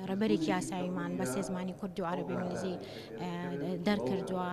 ڕێبەرێکی یاساییمان بە سێ زمانی کورد و عەرەبی و ئینگلیزی دەرکردووە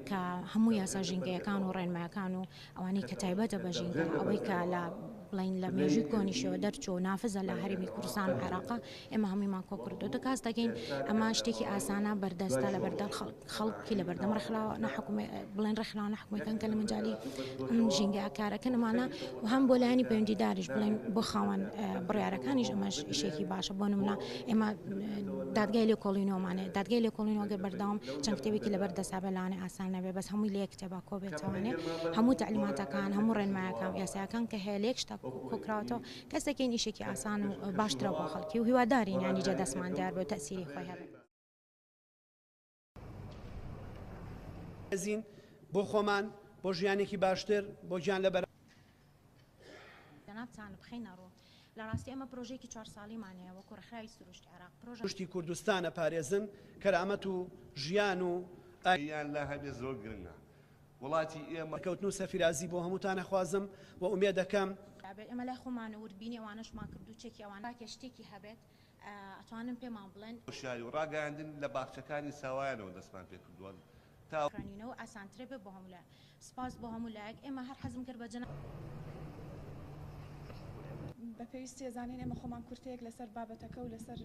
کە هەموو یاسا ژینگەیەکان و ڕێنمایەکان و ئەوانەی کە تایبەتە بە ژینگە ئەوەی کە لە بڵین لە مێژووی کۆنیشەوە دەرچوو نافزە لە هەرمی کوردستان و عێراقا ئێمە هەموویمان کۆکردۆتە کاس دەگەین ئەمە شتێکی ئاسانە بەردەستە لە بەردە خەڵکی لە بەردەم ڕخراوە نەحکومێ بڵێن ڕخراوە نەحکومەکەن کە لە مجای ژینگە کارەکەنمانە و هەم بۆ لایانی پەیوەندیداریش بڵێن بۆ خاوەن بڕارەکانیش ئەمەش شێکی باشە بۆ نمونە ئێمە دادگای لێ کۆڵینەوەمانێ دادگای لێ کۆڵینەوەگە بەردەوام چەند کتێبێکی لەبەر دەسابە لاانێ ئاسان نەبێ بەس هەمووی لە کتێبا کۆ بێتوانێ هەموو تعلیماتەکان هەموو ڕێنمایەکان یاساکان کە هەیە لێک شتا کۆکراوەتەوە کەسەکین ئیشەکی ئاسان و باشترە بۆ خەڵکی و هیوادارین یانیجە دەسمان دیار بێ و تەئسیری خۆی هەبێ. بەرزین بۆ خۆمان بۆ ژیانێکی باشتر بۆ گیان لە. جەنابتان بخەینە ڕوو. لە ڕاستی ئێمە پرۆژەیەکی چوار ساڵیمان هەیە وەکوو ڕێکخراوی سروشتی عێراق پرۆژە. سروشتی کوردستان ئەپارێزن، کەرامەت و ژیان و. یان لا هەبێ زۆر گرنگە. وڵاتی ئێمە. سەرکەوتن و سەفیرازی بۆ هەمووتان ئەخوازم و ئومێد ئەکەم. ئەبێت ئێمە لای خۆمان وردبینی ئەوانەشمان کردو چەکی ئەوان. تاکێ شتێکی هەبێت ئەتوانن پێمان بڵێن. هۆشیاری و ڕاگەیاندن لە باخچەکانی ساوایانەوە دەستمان پێ کردووە تا. خوێنینەوە ئاسانترە بێت بۆ هەموو لایەک. سپاس بۆ هەموو لایەک ئێمە هەر حەزم کرد بە جەنابت. بە پێویستی ئەزانین ئێمە خۆمان کورتەیەک لەسەر بابەتەکە و لەسەر.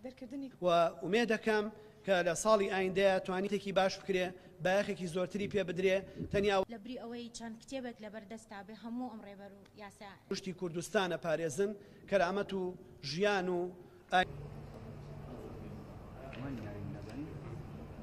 دەرکردنی. و ئومێدەکەم کە لە ساڵی ئایندەیە توانیتێکی باش بکرێ بایەخێکی زۆرتری پێ بدرێ تەنیا. لە بری ئەوەی چەند کتێبێک لە بەر دەستا بێ هەموو ئەم ڕێبەر و یاسا. گشتی کوردستان ئەپارێزن کەرامەت و ژیان و ئایین.